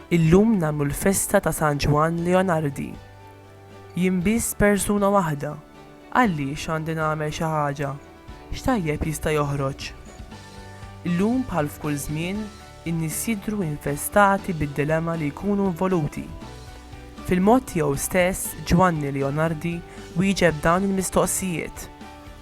Illum nagħmlu l-festa ta' San Ġwann Leonardi. Jien biss persuna waħda, għaliex għandi nagħmel xi ħaġa? X'tajjeb jista' joħroġ? Illum bħal f'kull żmien, in-nies jidhru infestati bid-dilemma li jkunu involuti. Fil-mod tiegħu stess, Ġwanni Leonardi wieġeb dawn il-mistoqsijiet.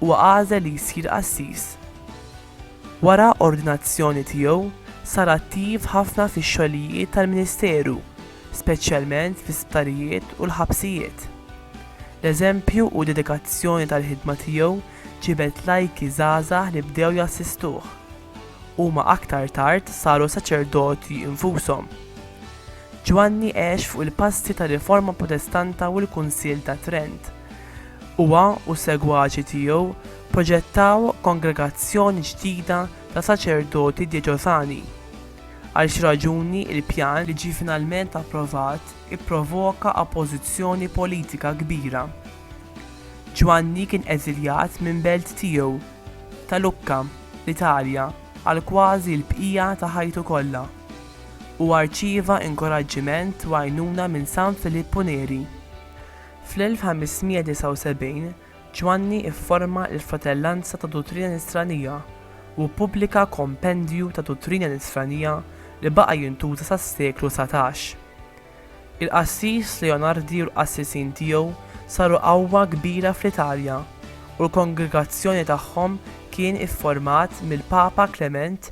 Huwa għażel li jsir qassis. Wara ordinazzjoni tiegħu, sar attiv ħafna fix-xogħlijiet tal-ministeru, speċjalment fl-isptarijiet u l-ħabsijiet. L-eżempju u d-dedikazzjoni tal-ħidma tiegħu ġibed lajki żgħażagħ li bdew jassistuh. Huma aktar tard saru saċerdoti infushom. Ġwanni għex fuq il-passi tar-Riforma Protestanta u l-Kunsill ta' Trent. Huwa u s-segwaċi tiegħu proġettaw kongregazzjoni ġdida ta' saċerdoti djeċosani. Għal xi raġuni, il-pjan li ġie finalment approvat ipprovoka oppożizzjoni politika kbira. Ġwanni kien eżiljat minn belt tiegħu ta' Lucca, l-Italja, għal kważi l-bqija ta' ħajtu kollha. Huwa rċieva inkoraġġiment u għajnuna minn San Filippu Neri. Fl-1579, Ġwanni fforma l-Fratellanza ta' Duttrina Nisranija u ppubblika Kompendju ta' Duttrina Nisranija li baqa' jintuża sas-seklu dsatax. Il-qassis Leonardi u l-qassisin tiegħu saru qawwa kbira fl-Italja u l-kongregazzjoni tagħhom kien ifformat mill-Papa Klement